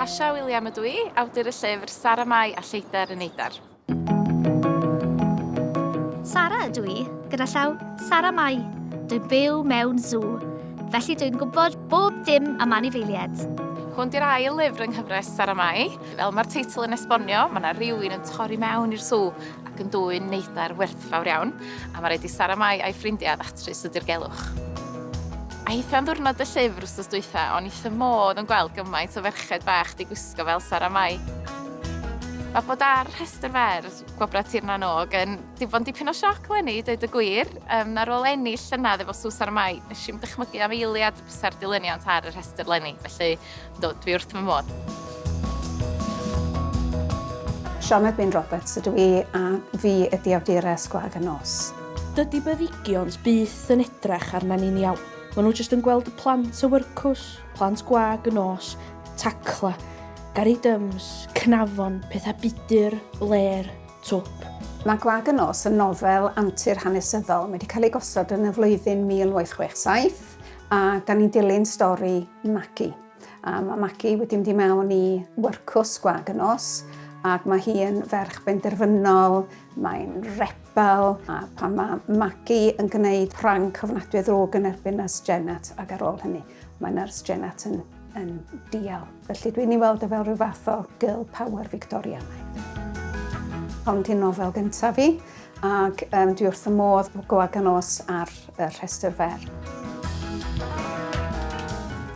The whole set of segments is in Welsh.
Kasia William ydw i, awdur y llyfr Sara Mai a Lleidr yn Eidar. Sara ydw i, gyda llaw Sara Mai. Dwi'n byw mewn sŵ, felly dwi'n gwybod bob dim am anifeiliaid. Hwn di'r ail lyfr yng nghyfres Sara Mai. Fel mae'r teitl yn esbonio, mae yna rywun yn torri mewn i'r sŵ ac yn dwyn neidar werthfawr iawn. A mae raid i Sara Mai a'i ffrindiau ddatrys y dirgelwch. Eitha am ddwrnod y llyfr wstos dwytha, o'n i wrth modd yn gweld gymaint o ferched bach di gwisgo fel Sara Mai. Mae bod ar rhestr fer Gwobrau Tir na n-Og yn di bod yn dipyn o sioc leni, dweud y gwir. Um, ar ôl ennill llynedd efo Sws ar y Mai, nes i'n dychmygu am eiliad bysa'r dilyniant ar y rhestr leni, felly Yndw, dwi wrth fy modd. Sioned Wyn Roberts ydw i a fi ydi awdures Gwag y Nos. Dydi byddigions byth yn edrach arna ni'n iawn. Mae nhw jyst yn gweld y plant o wyrcws, plant gwag y nos, tacla, gari dyms, cnafon, pethau budur, bler, twp. Mae Gwag y Nos yn nofel antur hanesyddol. Mae wedi cael ei gosod yn y flwyddyn 1867 A da ni'n dilyn stori Magi. A mae Magi wedi mynd i mewn i wyrcws gwag y nos ac mae hi yn ferch benderfynol, mae'n rebel a pan mae Magi yn gwneud prank cyfnadwy ddrwg yn erbyn Nurse Jennett ac ar ôl hynny mae Nurse Jennett yn, yn dial. Felly dwi'n ei weld e fel rhyw fath o girl power Fictorianaidd. Hon 'di nofel gyntaf fi, ac um, dwi wrth y modd bod Goa Ganos ar y rhestr fer.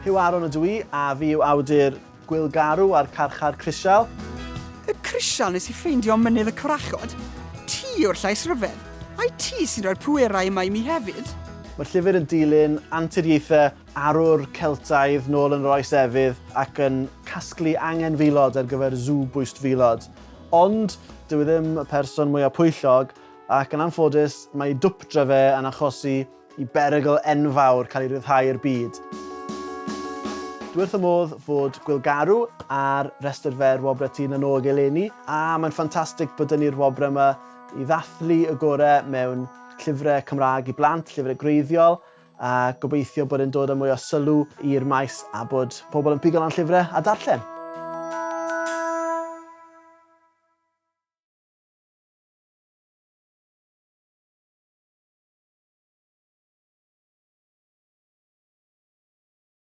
Huw Aaron ydw i, a fi yw awdur Gwyl Garw a'r Carchar Crisial. Y crisial nes i ffeindio mynydd y cwrachod. Ti yw'r llais ryfedd. Ai ti sy'n rhoi'r pwerau yma i mi hefyd? Mae'r llyfr yn dilyn anturiaethau arwr Celtaidd nôl yn yr Oes Efydd ac yn casglu angenfilod ar gyfer sŵ bwystfilod. Ond, dyw e ddim y person mwyaf pwyllog, ac yn anffodus, mae dwpdra fe yn achosi i berygl enfawr cael ei ryddhau i'r byd. Dwi wrth fy modd fod Gwilgarw ar restr fer Wobrau Tŷ na Nôg eleni, a mae'n ffantastig bod dyn ni'r wobrau yma i ddathlu y gorau mewn llyfrau Cymraeg i blant, llyfrau gwreiddiol, a gobeithio bod e'n dod â mwy o sylw i'r maes a bod pobl yn pigo lan llyfrau a darllen.